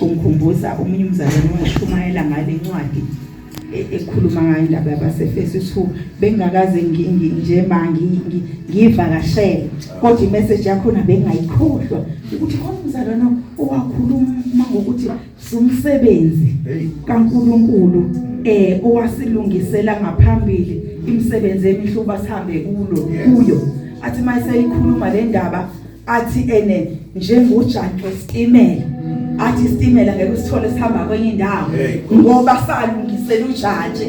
Ungikhumbuza omunye umzalwane owashumayela ngale ncwadi e- ekhuluma ngayo indaba yabaseFesu two bengakaze ngi- ngi- nje ma ngi- ngi- ngiyivakashele kodwa imessage yakhona bengayikhohlwa ukuthi khona umzalwane owakhuluma ngokuthi sumsebenzi Hey. kaNkuluNkulu eh owasilungisela ngaphambili imisebenzi emihle uba sihambe kulo Yes. kuyo athi mayiseyikhuluma le ndaba athi ene njengojantshi wesitimela athi isitimela ngeke usithole sihamba kwenye indawo ngoba salungisela ujantshi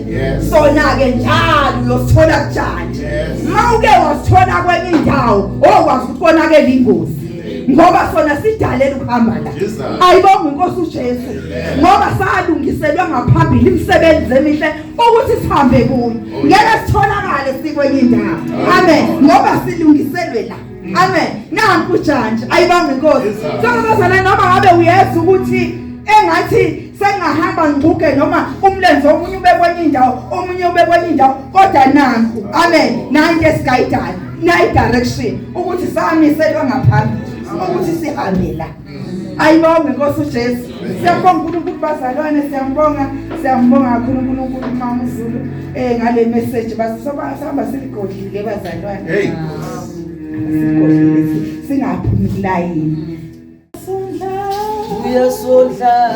sona ke njalo uyosithola kujantshi mawuke wasithola kwenye indawo okwazi oh, ukubonakela ingozi ngoba sona sidalela ukuhamba la ayibonga inkosi uJesu ngoba salungiselwa ngaphambili imisebenzi emihle ukuthi sihambe kuyo oh, ngeke sitholakale sikwenye indawo amen ngoba silungiselwe la amen nanku ujantshi ayibanga inkosi sokuzozana noma ngabe uyeza ukuthi engathi sengahamba ngiguge noma umlenze omunye ube kwenye indawo omunye ube kwenye indawo kodwa nanku amen nanke sigayidayo nayi direction ukuthi samiselwa ngaphambili ukuthi sihambe la ayibonge nkosi ujesu siyabonga unkulunkulu bazalwane siyambonga siyambonga kakhulu unkulunkulu umama uzulu um eh, ngale meseji basihamba siligodlile bazalwane sigodlile singaphumi kulayini uyasondla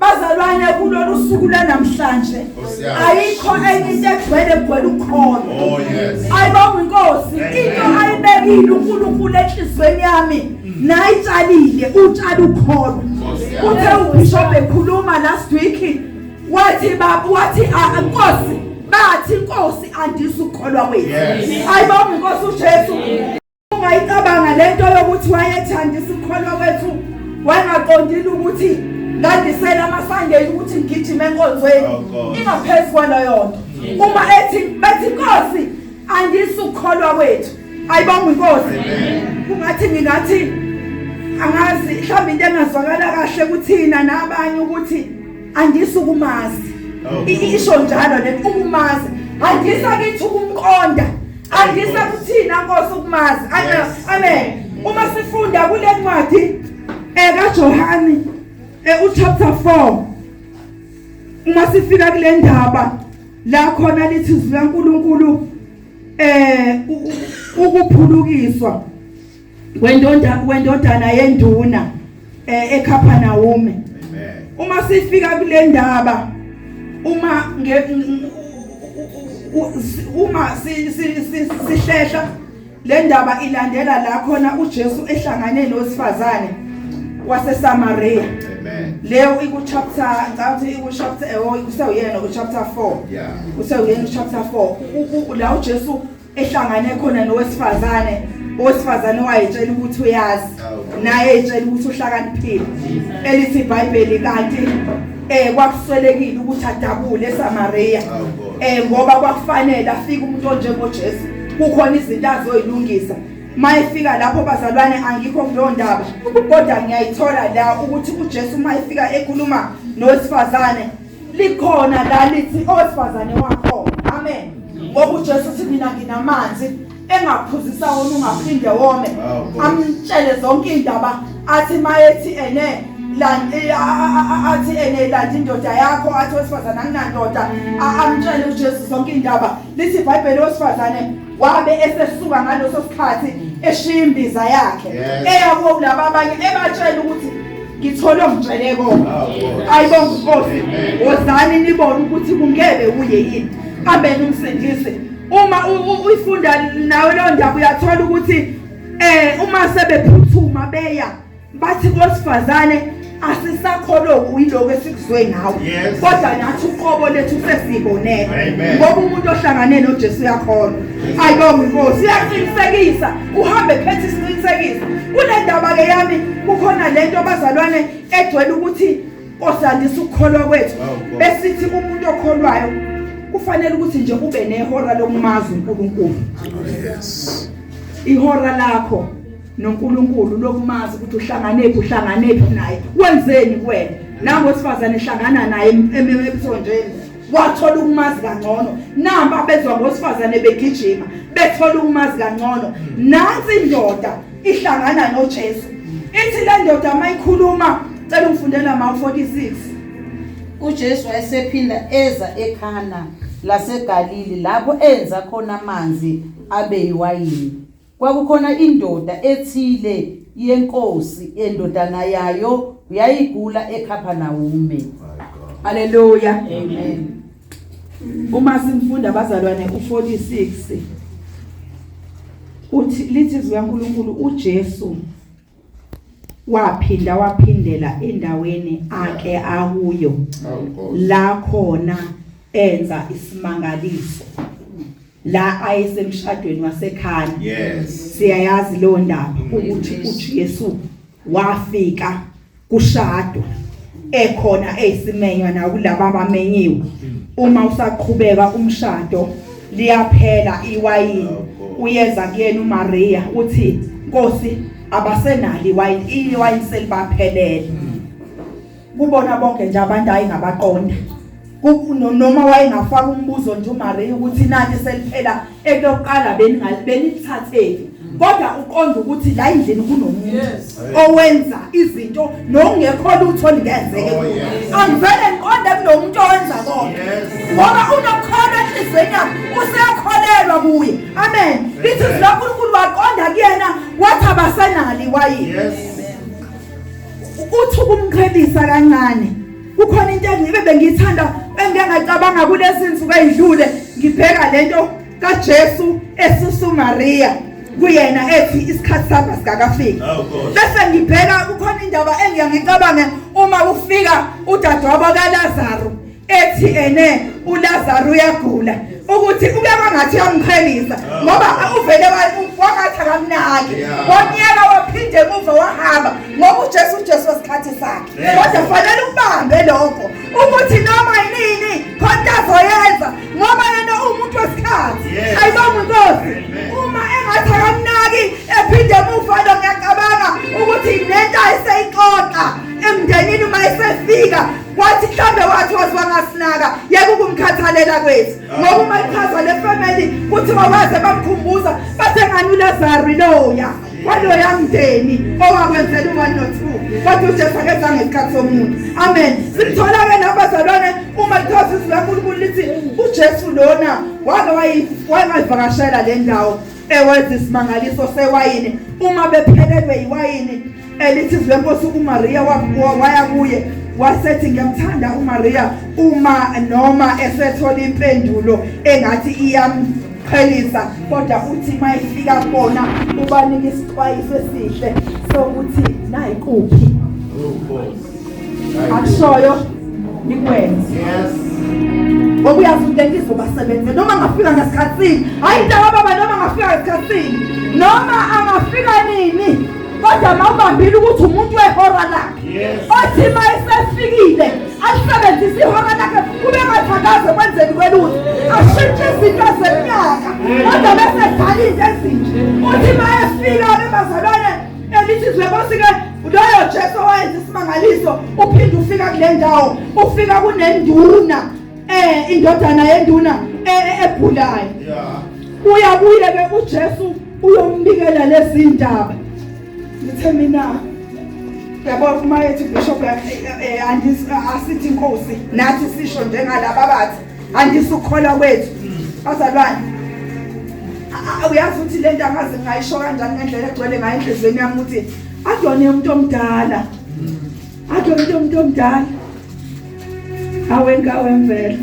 Bazalwane kulolu suku lanamhlanje ayikho enye into egcwele egcwele ukhona. Oh yes. Ayibonga inkosi into ayibekile uNkulunkulu enhlizweni yami nayitshalile utshala ukhona. Uthe uBishop ekhuluma last week wathi baba wathi ah, inkosi bathi inkosi andisa ukukholwa kwethu. Ayibonga inkosi uJesu. Ungayicabanga lento yokuthi wayethanda isikholwa kwethu wangaqondile ukuthi ngandisela amaSunday ukuthi ngigijime enkonzweni oh, ingaphezu kwalo yonke. Uma ethi bethi Nkosi andisukholwa kwethu ayibonga inkosi kungathi ngingathi angazi mhlawumbe into engazwakala kahle kuthina nabanye ukuthi andisa ukumazi isho njalo le ukumazi andisa kithi ukumqonda andisa kuthina Nkosi ukumazi amen uma sifunda kule ncwadi eka Johane eh, u chapter 4 uma sifika kule ndaba la khona lithi izwi laNkuluNkulu eh ukuphulukiswa wendonda wendodana yenduna eh, ekhapha nawume uma sifika kule ndaba uma nge uma sihlehla le ndaba ilandela la khona uJesu ehlangane nowesifazane waseSamaria amen leyo iku chapter ngicabanga iku chapter eh, oh kusewuyena ku chapter 4 yeah kusewuyena ku chapter 4 la uJesu ehlangane khona nowesifazane owesifazane owayetshela ukuthi uyazi naye etshela ukuthi uhlakaniphile elithi iBhayibheli kanti eh kwakuswelekile ukuthi adabule eSamaria eh ngoba kwakufanele afike umuntu onjengoJesu kukhona izinto azoyilungisa mayefika lapho bazalwane angikho kuleyo ndaba kodwa ngiyayithola la ukuthi uJesu mayefika ekhuluma nowesifazane likhona la lithi owesifazane wakho amen ngoba uJesu uthi mina nginamanzi engaphuzisa wona ungaphinde wome amtshele zonke indaba athi mayethi ene eh, athi ene landa indoda yakho athi wesifazane anginandoda amtshele uJesu zonke indaba lithi iBhayibheli wesifazane wabe esesuka ngaleso sikhathi eshiya imbiza yakhe eya kuwo kulaba abanye ebatshela ukuthi ngithole ongitshele kona ayibo nkosi wozani nibone ukuthi kungebe uye yini ambeni umsindise uma uyifunda nawe leyo ndaba uyathola ukuthi eh uma sebephuthuma beya bathi kwesifazane asisakholoku yiloko esikuzwe ngawo kodwa nathi uqobo lethu sesibonele ngoba umuntu ohlangane noJesu uyakholwa ayibonga inkosi uyaqinisekisa uhambe phethe isiqinisekiso kunendaba ke yami kukhona lento abazalwane egcwele ukuthi osandisa ukukholwa kwethu besithi umuntu okholwayo kufanele ukuthi nje kube nehora lokumazi uNkulunkulu oh, ihora lakho noNkulunkulu lokumazi ukuthi uhlanganephi uhlanganephi naye wenzeni kuwena nango sifazane ehlangana naye emsonjeni wathola ukumazi kangcono namba bezwa ngosifazane begijima bethola ukumazi kangcono nansi indoda ihlangana noJesu ithi le ndoda mayikhuluma cela ungifundela ma 46 uJesu wayesephinda eza ekhana laseGalili lapho enza khona amanzi abe yiwayini Kwakukhona indoda ethile yenkosi endodana yayo yayigula eKhaphanawume. My God. Haleluya. Amen. Uma simfunda abazalwane u46 uthi lithi zikaNkuluNkulu uJesu waphinda waphindela endaweni ake akuyo la khona enza isimangaliso la ayesemshadweni wasekhaya yes siyayazi lo ndaba ukuthi uJesu wafika kushadwa ekhona ezimenywa nakulabo abamenyiwe uma usaqhubeka umshado liyaphela iwayini uyeza kuyena uMaria uthi Nkosi abasenali iwayini iwayini selibaphelele kubona bonke nje abantu hayi ngabaqonda noma wayengafaka umbuzo nje uMaria ukuthi nani seliphela ekuyoqala beningalithatheli kodwa uqonda ukuthi la indlini kunomuntu owenza izinto nokungekho lutho lingenzeke oh, angivele ngiqonde kunomuntu owenza konke ngoba unokhona enhliziyweni yakhe useyakholelwa kuye amen lithi zikankulunkulu waqonda kuyena wathi abasenali wayini uthi ukumqhelisa kancane kukhona into engibe bengiyithanda engingacabanga kulezi nsuku ezidlule ngibheka lento kaJesu esusa uMaria kuyena ethi isikhathi sami sikakafiki bese ngibheka kukhona indaba engiya ngicabange uma kufika udadewabo kaLazaro ethi ene uLazaro uyagula ukuthi ubeka ngathi uyamqhelisa ngoba uvele wangathi akamnaki wonyela waphinde emuva wahamba ngoba uJesu uJesu wesikhathi sakhe kodwa fanele ubambe lokho ukuthi noma yini khonta azoyenza ngoba yena uwumuntu wesikhathi ayibonga inkosi uma engathi akamnaki ephinde emuva lo ngiyacabanga ukuthi nento ayiseyixoxa emndenini uma esefika wathi mhlambe wathi waziwa ngasinaka yeke ukumkhathalela kwethu ngoba uma ichaza le family kuthiwa waze bamkhumbuza bathe ngani ulazaro loya waloya mndeni owakwenzela u-one no-two kodwa ujesu akeza ngesikhathi somuntu amen simthola-ke nabazalwane uma lithiwa zizwi lankulunkulu lithi ujesu lona wake wayivakashela le ndawo ewenza isimangaliso sewayini uma bephelelwe yiwayini elithi izwi lenkosi umariya waya kuye wasethi ngiyamthanda umariya uma noma esethola impendulo engathi iyam qhelisa kodwa uthi mayifika kubona ubanika isixwayiso esihle sokuthi nayi kuphi akushoyo nikwenze yes okuyazi ukuthi engizobasebenze noma ngafika ngesikhathini hayi mntakababa noma ngafika ngesikhathini noma angafika nini kodwa mawubambile ukuthi umuntu wehora lakhe othi ma esefikile alisebenzise ihora lakhe kube ngathakaze kwenzeni kwelutho ashintshe izinto zeminyaka kodwa bese edala into ezinje uthi ma efika bebazalwane elithi zwekosi-ke loyo jesu owayenza isimangaliso uphinde ufika kule ndawo ufika kunenduna eh indodana yenduna eh, egulayo uya kuye ke uJesu uyombikela lezindaba ngithe mina yabo uma ethi bishop eh, eh, asithi inkosi nathi sisho njengalaba bathi andisukholwa kwethu bazalwane uyazi ukuthi le nto angazi ngayisho kanjani ngendlela egcwele ngayo enhliziyweni yami ukuthi akuyona umuntu omdala Athi umuntu umuntu omdala. Awenka wemvelo.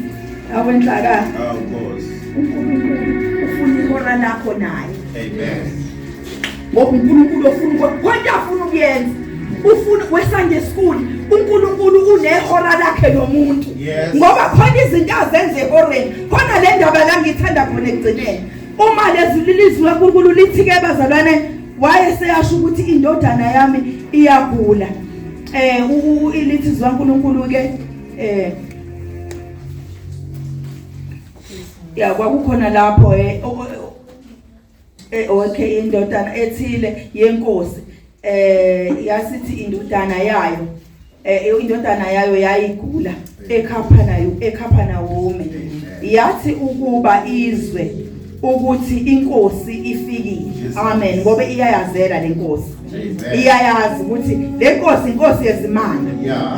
Awenhlaka. Awu Nkosi. UNkulunkulu ufuna ihora lakho naye. Amen. Ngoba uNkulunkulu ofuna konke afuna ukuyenza. Ufuna weSunday school uNkulunkulu unehora lakhe nomuntu. Ngoba khona izinto azenze ehoreni. Khona le ndaba la ngithanda khona ekugcineni. Uma lezwi lilizwe uNkulunkulu lithi ke bazalwane waye seyasho ukuthi indodana yami iyagula eh ilithi zikaNkulunkulu ke eh ya kwakukhona lapho eh, eh okay indodana ethile yenkosi eh yasithi indodana yayo eh, eh indodana yayo yayigula ekhapha nayo ekhapha nawome yathi ukuba izwe ukuthi inkosi ifikile amen ngoba iyayazela lenkosi iyayazi ukuthi lenkosi inkosi yezimanga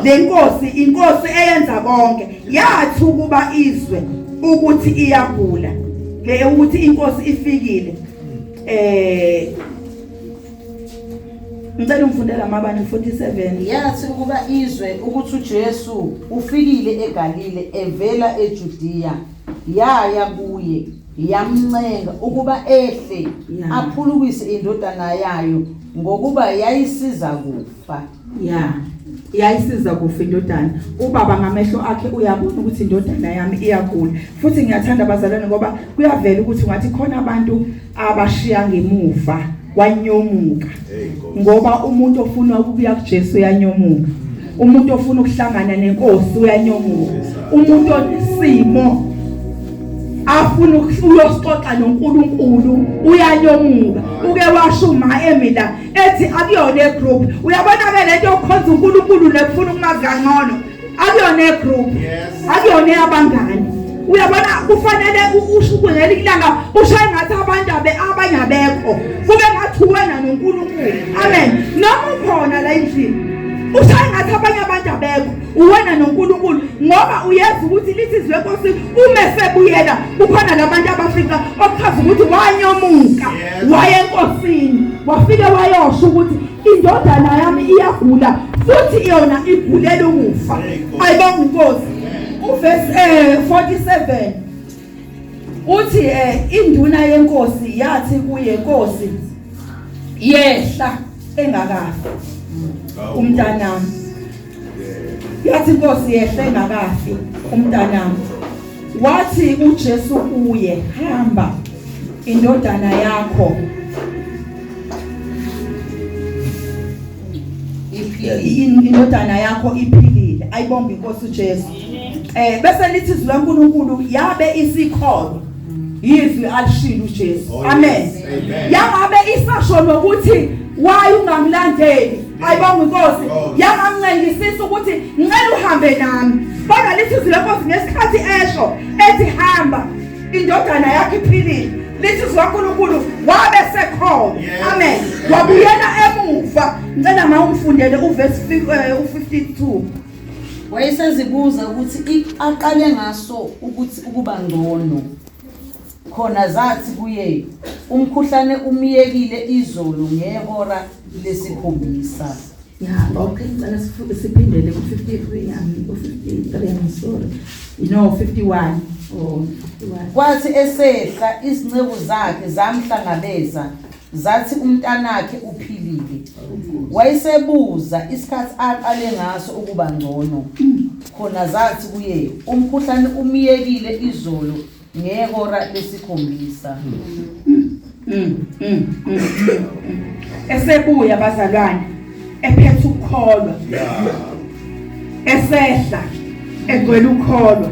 lenkosi inkosi eyenza konke yathi ukuba izwe ukuthi iyagula le ukuthi inkosi ifikile eh ngicela ungifundela amabani 47 yathi ukuba izwe ukuthi uJesu ufikile eGalile evela eJudiya yaya kuye yamncenga ukuba ehle aphulukise indodana yayo ngokuba yayisiza kufa ya yayisiza kufa indodana ubaba ngamehlo akhe uyabona ukuthi indodana yami iyagula futhi ngiyathanda abazalwane ngoba kuyavela ukuthi ungathi khona abantu abashiya ngemuva wanyomuka ngoba umuntu ofuna ukubuya kuJesu uyanyomuka umuntu ofuna ukuhlangana nenkosi uyanyomuka umuntu onesimo afuna uyoxoxa noNkulunkulu uyanyomuka uke washo uma emila ethi akuyona egroup uyabona ke lento yokukhonza uNkulunkulu nekufuna ukumazi kangcono akuyona egroup akuyona eyabangani uyabona kufanele usho ngelinye ilanga ushaye ngathi abantu abanye abekho kube ngathi wena noNkulunkulu amen noma ukhona la endlini ushaye ngathi abanye abantu abekho uwena noNkulunkulu ngoba uyazi ukuthi lisizwe enkosi uma esebuyela kukhona labantu abafika okuchaza ukuthi wanyomuka waye enkosini wafike wayosho ukuthi indodana yami iyagula futhi yona igulela ukufa ayibonga inkosi uvesi eh 47 uthi eh induna yenkosi yathi kuye inkosi yehla engakafi umntanami yathi inkosi yehle engakafi umntanami wathi uJesu kuye hamba indodana yakho indodana yakho iphilile ayibonga inkosi uJesu eh bese lithi izwi laNkuluNkulu yabe isikhona yizwi alishilo uJesu oh, amen yangabe isasho nokuthi why ungamlandeli ayibonga inkosi yangamncengisisa ukuthi ngicela uhambe nami kodwa lithi izwi lenkosi ngesikhathi esho ethi hamba indodana yakhe iphilile lithi izwi lankulunkulu wabe sekhona amen wabuyela emuva ngicela ma ungifundele uvesi 52 wayesezibuza ukuthi aqale ngaso ukuthi ukuba ngcono Khona zathi kuye, Umkhuhlane umyekile izolo ngehora lesikhombisa. Ya, okay, ngicela sifu- siphindele ku-53 yami, u-53 yami, sorry. No, 51. Oh, 51. Kwathi esehla izinceku zakhe zamhlangabeza zathi umntanakhe uphilile. Wayesebuza isikhathi aqale ngaso ukuba ngcono. Khona zathi kuye, Umkhuhlane umyekile izolo ngehora lesikhombisa esebuya bazalwane ephethe ukukholwa esehla egcwele ukukholwa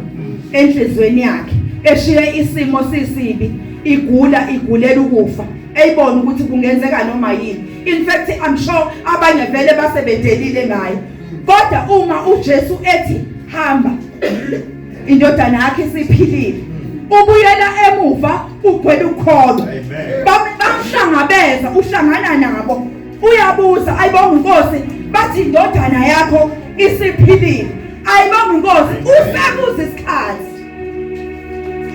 enhlizweni yakhe eshiye isimo sisibi igula igulela ukufa eyibona ukuthi kungenzeka noma yini in fact i'm sure abanye vele basebedelile ngaye kodwa uma uJesu ethi hamba indodana yakhe isiphilile ubuyela emuva ugwela ukholwa bamhlangabeza uhlangana nabo uyabuza ayibonga inkosi bathi indodana yakho isiphilile ayibonga inkosi usekuza isikhathi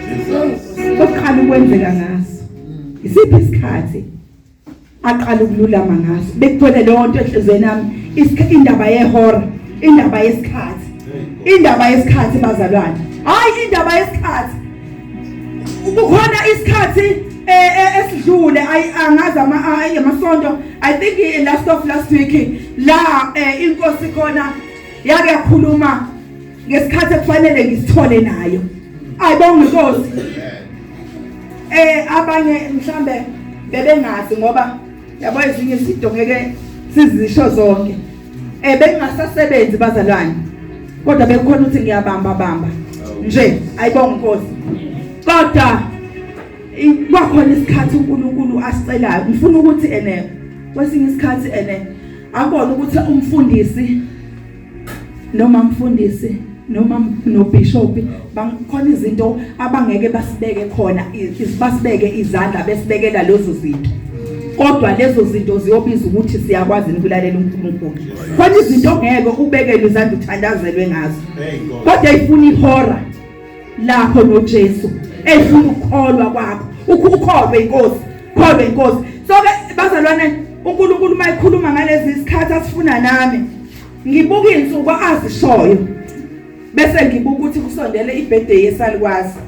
Jesus ukukhala ukwenzeka ngaso isiphi isikhathi aqala ukululama ngaso bekugcwele leyo nto enhlizweni yami indaba yehora indaba yesikhathi indaba yesikhathi bazalwane hayi indaba yesikhathi kukhona isikhathi eh, eh, esidlule angazi amasonto i think eh, last of last week la inkosi khona yake yakhuluma ngesikhathi ekufanele ngisithole nayo ayibonga inkosi eh abanye mhlambe bebengazi ngoba yabo ezinye izinto ngeke sizisho zonke eh bengasasebenzi bazalwane kodwa bekukhona ukuthi ngiyabamba bamba nje ayibonga inkosi kodwa kwakhona isikhathi uNkulunkulu asicelayo ngifuna ukuthi ene kwesinye isikhathi ene akona ukuthi umfundisi noma mfundisi noma nobishop bangikhona izinto abangeke basibeke khona basibeke izandla besibekela lezo zinto kodwa lezo zinto ziyobiza ukuthi siyakwazi ukulalela uNkulunkulu khona izinto ngeke ubekele izandla uthandazelwe ngazo kodwa ifuna ihora lapho noJesu efuna ukukholwa kwakho ukukholwe inkosi kholwe inkosi so ke bazalwane uNkulunkulu mayikhuluma ngalezi isikhathi asifuna nami ngibuka insuku azishoyo bese ngibuka ukuthi kusondele ibirthday yesalikwazi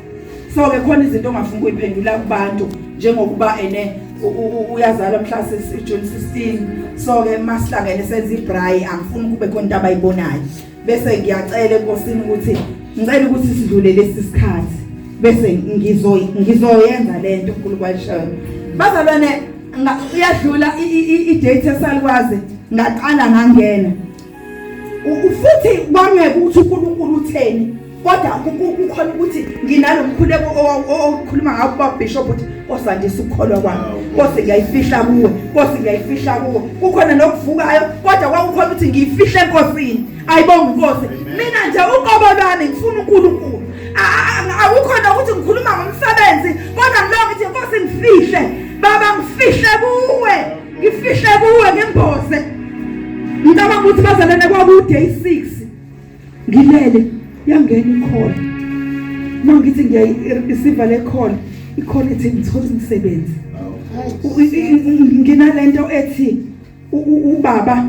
so ke khona izinto ongafuna ukuyiphendula kubantu njengokuba ene uyazala mhla sisi June 16 so ke masihlangene senza ibrayi angifuni kube khona into abayibonayo bese ngiyacela enkosini ukuthi ngicela ukuthi sidlule lesi sikhathi bese ngizoy ngizoyenza lento uNkulunkulu ayishayo bazalwane uyadlula i-date esalikwazi ngaqala ngangena futhi kwangeke ukuthi uNkulunkulu utheni kodwa kukhona ukuthi nginalomkhuleko owukhuluma ngawo kuba bishop ukuthi Nkosi andisa ukukholwa kwami Nkosi ngiyayifihla kuwe Nkosi ngiyayifihla kuwe kukhona nokuvukayo kodwa kwakukhona ukuthi ngiyifihle enkosini ayibonga inkosi mina nje uqobo lwami ngifuna uNkulunkulu awukhona ukuthi ngikhuluma ngomsebenzi kodwa ngilonga ukuthi Nkosi ngifihle baba ngifihle kuwe ngifihle kuwe ngemboze ngicabanga ukuthi bazalene kwakude i6 ngilele yangena ikhona uma ngithi ngiyayisiva le khona ikhona ethi ngithole umsebenzi nginalento ethi ubaba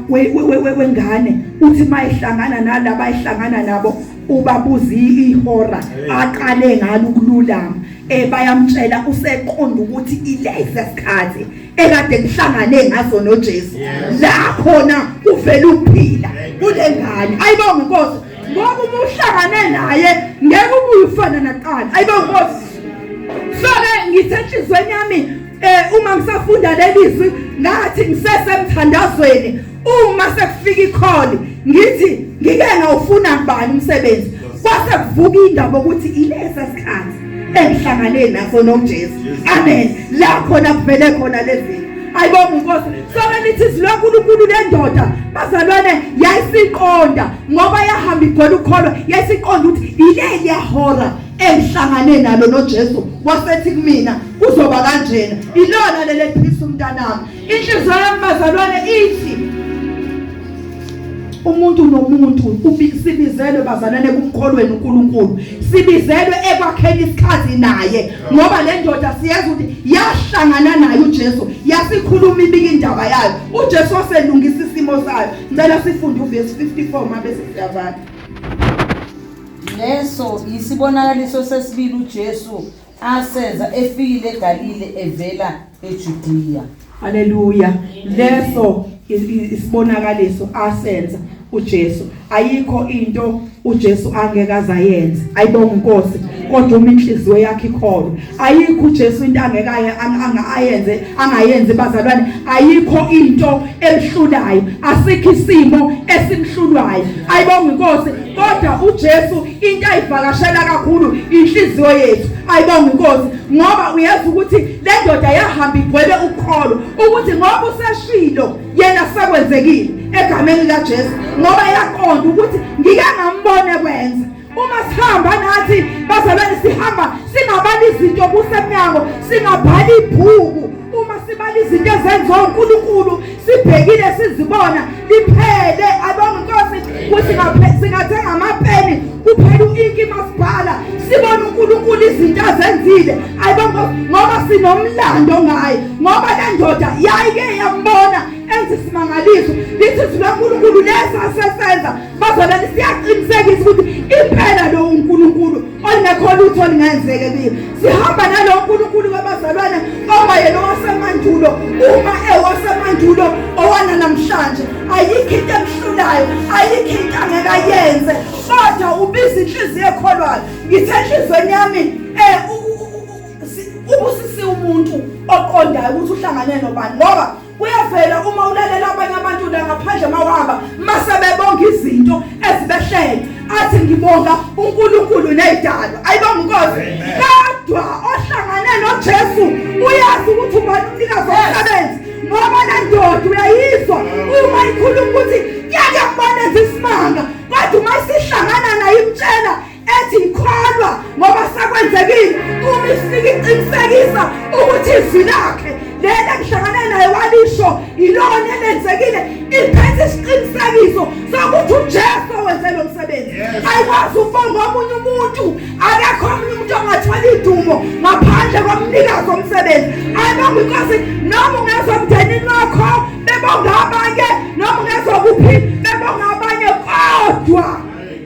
wengane uthi mayihlangana nalaba ayihlangana nabo ubabuza ihora aqale ngalo ukululama eh bayamtshela useqonda ukuthi ilesi sikhathi ekade ngihlangane ngazo noJesu la khona uvela ukuphila kulengane ayibonga inkosi ngoba uma uhlangane naye ngeke ubuye ufana naqala ayibonga inkosi so ke ngisenhlizweni yami eh uma ngisafunda lelizwi ngathi ngisesemthandazweni uma sekufika ikholi ngithi ngike ngawufuna kubani umsebenzi kwase kuvuka indaba ukuthi ilesa sikhathi engihlangane naso noJesu amen la khona kuvele khona lezi ayibonga inkosi soke nithi silonkulunkulu lendoda bazalwane yayisiqonda ngoba yahamba igwela ukholwa yayisiqonda ukuthi yileli yahora engihlangane nalo noJesu wasethi kumina kuzoba kanjena ilona leli phisa umntanami Inhliziyo yami bazalwane ithi umuntu nomuntu ubizibizelwe bazalwane kumkholweni uNkulunkulu sibizelwe ekwakheni isikhathi naye ngoba le ndoda siyazi ukuthi yahlangana naye uJesu yasikhuluma ibika indaba yayo uJesu waselungisa isimo sayo ngicela sifunde uverse 54 mabe siyavala leso yisibonakaliso sesibili uJesu asenza efikile eGalile evela eJudiya. Haleluya. Leso is- is- isibonakaliso asenza uJesu. Ayikho into uJesu angeke azayenza. Ayibonga inkosi kodwa uma inhliziyo yakhe ikholwa. Ayikho uJesu into angeke aye- ang- anga- ayenze angayenzi bazalwane. Ayikho into emhlulayo. Asikho isimo esimhlulayo. Ayibonga inkosi kodwa uJesu into ayivakashela kakhulu inhliziyo yethu ayibonga inkosi ngoba uyazi ukuthi le ndoda yahamba igcwele ukholo ukuthi ngoba useshilo yena sekwenzekile egameni likaJesu ngoba yaqonda ukuthi ngike ngambone kwenza uma sihamba nathi bazalwane sihamba singabali izinto kusemnyango singabhali ibhuku uma sibala izinto ezenziwa uNkulunkulu sibhekile sizibona liphele abonga inkosi ukuthi singathenga amapeni kuphela u-inki masibhala sibona unkulunkulu izinto azenzile ayibonga ngoba sinomlando ngaye ngoba le ndoda yayike yambona enza isimangaliso lithi izwi lankulunkulu lesasesenza bazolani siyaqinisekisa ukuthi impela lowo nkulunkulu olingekho lutho olingenzeke kuye sihamba nalowo nkulunkulu wabazalwane owayena owasemandulo uma ewasemandulo owana namhlanje ayikho into emhlulayo ayikho into angeke ayenze kodwa ubiza inhliziyo ekholwayo ngithe enhliziyweni yami um ubusisiwe umuntu oqondayo ukuthi uhlangane nobani ngoba Kuyavela uma ulalela abanye abantu la ngaphandle mawaba mase bebonga izinto ezibehlele athi ngibonga uNkulunkulu nezidalo ayibonga inkosi kodwa ohlangane noJesu uyazi ukuthi ubani umnikazi womsebenzi ngoba lendoda uyayizwa uma ikhuluma ukuthi yake kubona isimanga kodwa uma isihlangana naye imtshela ethi ngikholwa ngoba sakwenzekile uma ifika iqinisekisa ukuthi izwi lakhe lena ngihlangane naye walisho yilona elenzekile iphethe isiqinisekiso sokuthi uJesu wenze lo msebenzi ayikwazi ukubonga omunye umuntu akekho omunye umuntu ongathola idumo ngaphandle komnikazi omsebenzi ayibonga inkosi noma ungezwa emndenini wakho bebonga abanye noma ungezwa kuphi bebonga abanye kodwa